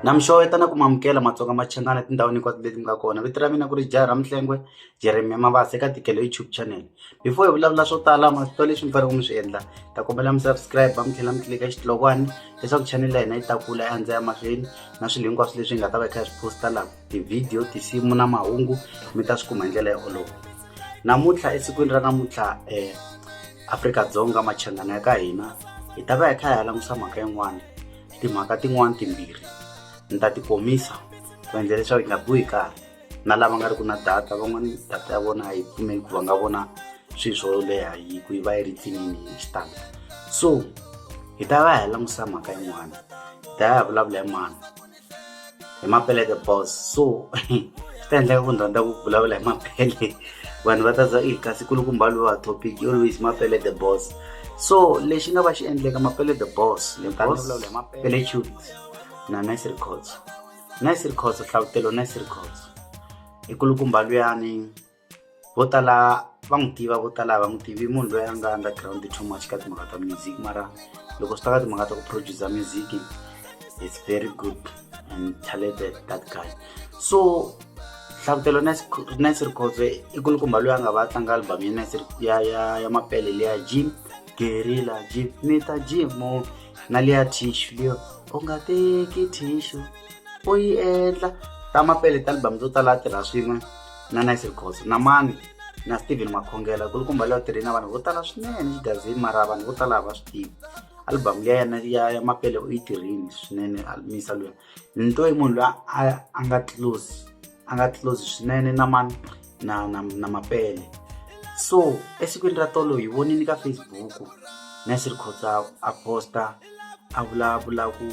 na mixo yi tana ku mamukela matsonga ma chenana etindhawini hinkwato leti mi nga kona vito ra mina ku ri jaha ra mihlengwe Jeremia Mabasa eka tikelo YouTube channel before hi vulavula swo tala masito leswi mi faneleke mi swi endla ta kombela mi subscribe mi tlhela mi tlilika xitlokwana leswaku channel ya hina yi ta kula ya ndza ya mahlweni na swilo hinkwaswo leswi hi nga ta va hi kha hi swi posta laha tivhidiyo tinsimu na mahungu mi ta swi kuma hi ndlela yo olova namuntlha esikwini ra namuntlha um afrika-dzonga machangana ya ka hina hi ta va hi kha hi ya langutisa mhaka yin'wana timhaka tin'wana timbirhi ni ta ti komisa ku endla leswaku hi nga biwi karhi na lava nga ri ku na data van'wani data ya vona a yi pfumeli ku va nga vona swilo swo leha yi ku yi va yi ri tsinini hi xitalo so hi ta va hi langutisa mhaka yin'wana hi ta ya hi vulavula hi mani hi mapele the boss so swi ta endleka ku ni rhandza ku vulavula hi mapele vanhu va ta za i kasi kulukumba lowa topic always mapele the boss so lexi nga va xi endleka mapele the boss ni ta vulavula hi mapele tut na nice records Nice rikhotso hlavutelo nice rikhotso i kulukumba luyani vo tala va n'wi tiva vo tala va n'wi tivi munhu loyi a nga underground too much ka timhaka ta music mara loko swi ta ka timhaka ta ku producer music is very good and talented that guy so hlavutelo nice rikhotso i kulukumba loyi a nga va tlanga album ya nice ya ya ya mapele leya jim gerila ji mi ta ji mo na liya thishu liyo u nga teki thishu u yi endla ta mapele ta album to tala tirha swin'we na nice records na mani na steven makhongela ku ri kumba leyo tirhi na vanhu vo tala swinene xigazini mara vanhu vo tala va swi tivi album liya yena ya ya mapele u yi tirhini swinene misa luya ni twa yi munhu loyi a a nga close a nga close swinene na mani na na na mapele so esikwini ra tolo hi vonini ka facebook nasir khotsa a posta a vulavula ku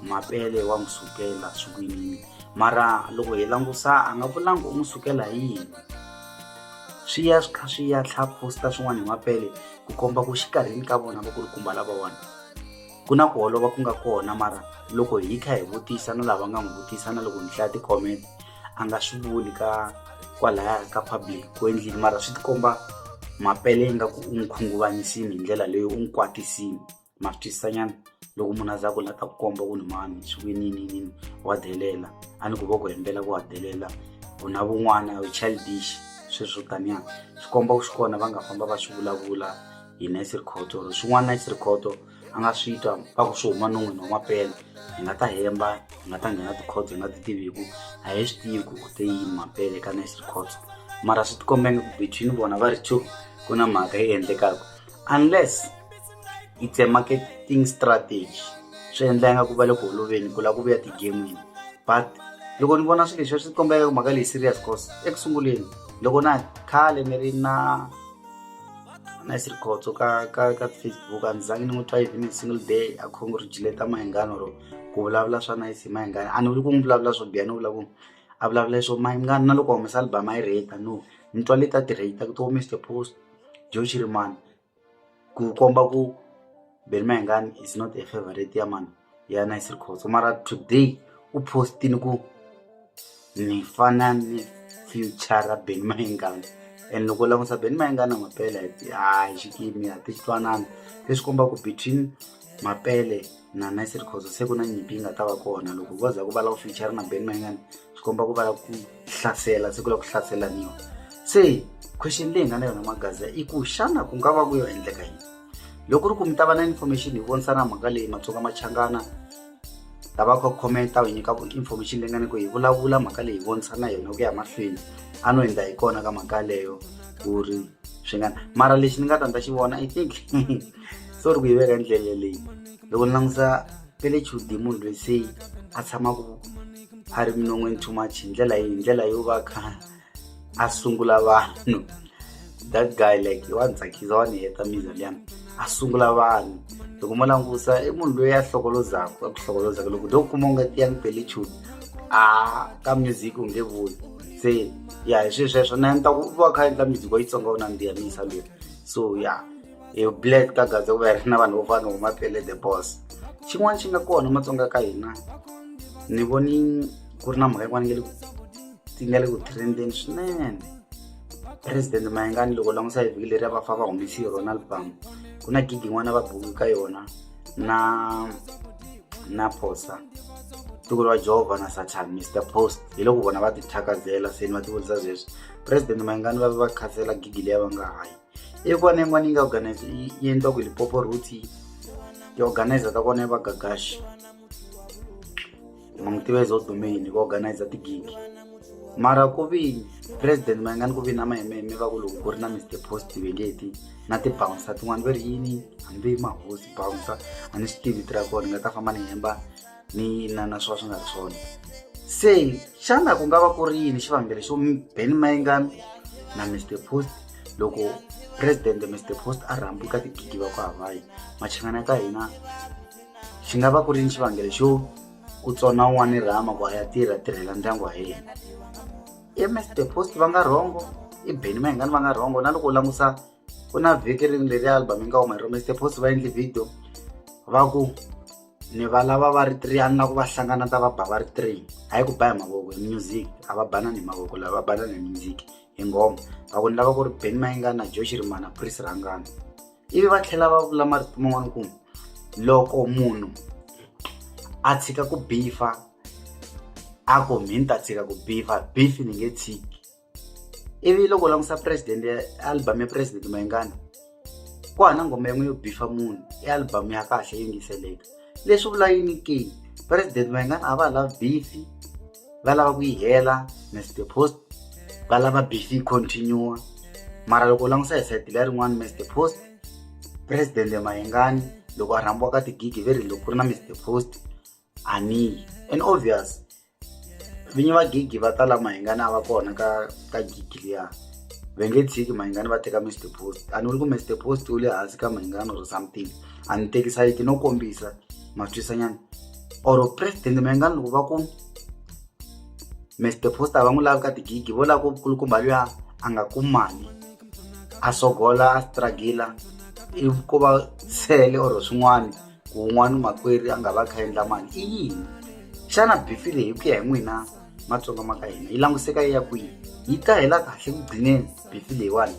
mapele wa n'wi sukela swikwinini mara loko hi langusa a nga vulanga u n'wi sukela hi yini swi ya swi kha swi ya tlha posta swin'wana hi mapele ku komba ku xikarhini ka vona va ku ri kumba lavawani ku na ku holova ku nga kona mara loko hi kha hi vutisa na lava nga n'wi vutisa na loko ni hlaya ti-comment a nga swi vuli ka kwalaya ka public ku endlile mara swi tikomba mapele yi nga ku u n'wi khunguvanyisini hi ndlela leyi u n'wi kwatisini ma swi twisisanyana loko munhu a za ku la ta ku komba ku ni mani swi ku yininiyinini wa delela a ni ku vo ku hembela ku wa delela u na vun'wana u childish sweswo taniya swi komba ku swi kona va nga famba va swi vulavula hi nice record or swin'wana nice record a nga swi twa va ku swi huma non'wini wa mapele hi nga ta hemba hi nga ta nghena tikhod hi nga ti tivi hi ku a hi swi tivi ku te yini mapele ka nice record mara swi tikombenge ku between vona va ri two ku na mhaka yi endlekaka unless it's a marketing strategy swi endla nga ku va le ku holoveni ku lava ku vuya tigemini but loko ni vona swilo leswi swi kombeka mhaka leyi serious cause eku sunguleni loko na khale ni ri na nice rikhotso ka ka ka Facebook a ndzi zangi ni n'wi twa even a single day a congratulate Mayengani or ku vulavula swa nice hi Mayengani a ni vuli ku n'wi vulavula swo biha ni vula ku a vulavula leswo Mayengani na loko humesa album a yi rate no ni twa leti a ti rate ku to Mister Post Joe Shirimani ku komba ku Benny Mayengani is not a favourite ya mani. ya nice rikhotso mara today u postini ku ni fana ni future ben mayengana and loko u langutisa ben mayengana mapele hayi xikimi a ti twanana leswi komba ku between mapele na nice rikhotso se ku na nyimpi yi nga ta va kona loko vo za ku va lava future na ben mayengana swi komba ku va lava ku hlasela se ku lava ku hlaselaniwa se question leyi nga na yona magaza i ku xana ku nga va ku yo endleka yini loko ku ri ku mi ta va na information hi vonisana mhaka leyi matsonga machangana lava ku comment u nyika information leyi nga ni ku hi vulavula mhaka leyi hi vonisana yona ku ya mahlweni a no hundza hi kona ka mhaka leyo ku ri swi nga mara lexi ni nga ta ndza xi vona i think so ri ku yi veka ndlela leyi loko ni langusa pele chudi munhu loyi se a tshamaka a ri minon'weni too much hi ndlela hi ndlela yo va kha a sungula vanhu that guy like wa ni tsakisa wa ni heta miza liyani a sungula vanhu loko mo langusa i munhu loyi a hlokolozaka a ku hlokolozaka loko do kuma u nga ti ya ni pele chuni a ka music u nge vuli se ya hi swilo sweswo na ni ta ku va kha endla music wa yitsonga u nandziha misa lweyi so ya hi black ka gaza ku va hi ri na vanhu vo fana huma pele the boss xin'wana xi nga kona matsonga ka hina ni voni ku ri na mhaka yin'wana nge le ti nga le ku trendeni swinene president mayengani loko langusa hi vhiki leri a va fa va humesi hi rona album ku na gigi n'wana va buki ka yona na na phosa tiko ra jehova na satan mr post hi loko vona va tithakazela seni va tivutisa sweswi president mayengani va ve va khazela gigi leyi va nga hayi i kona yin'wana yi nga organize yi endliwa ku lipopo root ti-organizer ta kona yi va gagaxi ma n'wi tiva izo domain ku organizer tigigi mara ku vi president ma nga ni ku vi na mahememe va ku loko ku ri na mister post vengeti na tibouncer tin'wana va ri yini hambi mahosi bouncer a ni swi tivi tira kona ni nga ta famba ni hemba ni na na swa swi nga ri swona se xana ku nga va ku ri yini xivangelo xo beni mayingani na mister post loko president mister post a rhambi ka tigigi va ku havayi machangana ka hina swi nga va ku ri ni xivangelo xo ku tsona un'wana rhama ku a ya tirha tirhela ndyangu wa yena ems the post va nga rhongo i beni mahingani va nga rhongo na loko u langusa ku na vhiki rini leri album yi nga huma hi ro mr post va endli video va ku ni va lava va ri three a ni la ku va hlangana ta va ba va ri three hayi ku ba hi mavoko hi music a va banani hi mavoko lava va banani hi music hi nghoma va ku ni lava ku ri beni mahingani na josh rimana pris rhangana ivi va tlhela va vula marito man'wana ku loko munhu a tshika ku bifa a ku mi ni ta tshika ku bifa beef ni nge tshiki ivi loko u langusa president ya album ya president mayingana ku hana nghoma yin'we yo bifa munhu i album ya kahle yingiseleka leswi vula yini ke president mayingana a va ha lavi bifi va lava ku yi hela must the post va lava bc continue mara loko u langusa hi sayiti leya rin'wana must the post president mayengani loko a rhambiwa ka tigigi ve ri loko ku ri na must the post aniyi and obvious vinyi va gigi va tala mayengani a va kona ka ka gigi liya va nge tshiki mayengani va teka must the post a ni vuli ku must the post u le hansi ka mayengani or something a ni tekisayiti no kombisa ma twisanyana or president mengani loko va ku mr poster va n'wi lavi ka tigigi vo lava ku kulukumba luya a nga kumi mali a sogola a stragila i ko va sele or swin'wana ku un'wana makwerhu a nga va kha endla mali i yini xana bifi leyi ku ya hi n'wina matsonga ma ka hina yi languseka yi ya kwihi yi ta hela kahle ku gcineni bifi leyiwani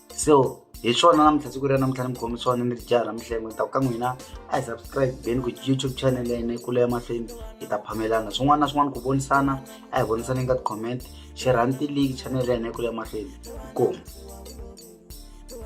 so hi swona namuntlha siku ra namuntlha ni mi khomi swona ni ri jaha ra mihlengo ni ta ku ka n'wina a hi subscribe beni ku youtube channel ya hina yi kula emahlweni hi ta phamelana swin'wana na swin'wana ku vonisana a hi vonisaneni ka ti-comment xirhanti league channel ya hina yi kula emahlweni hi kona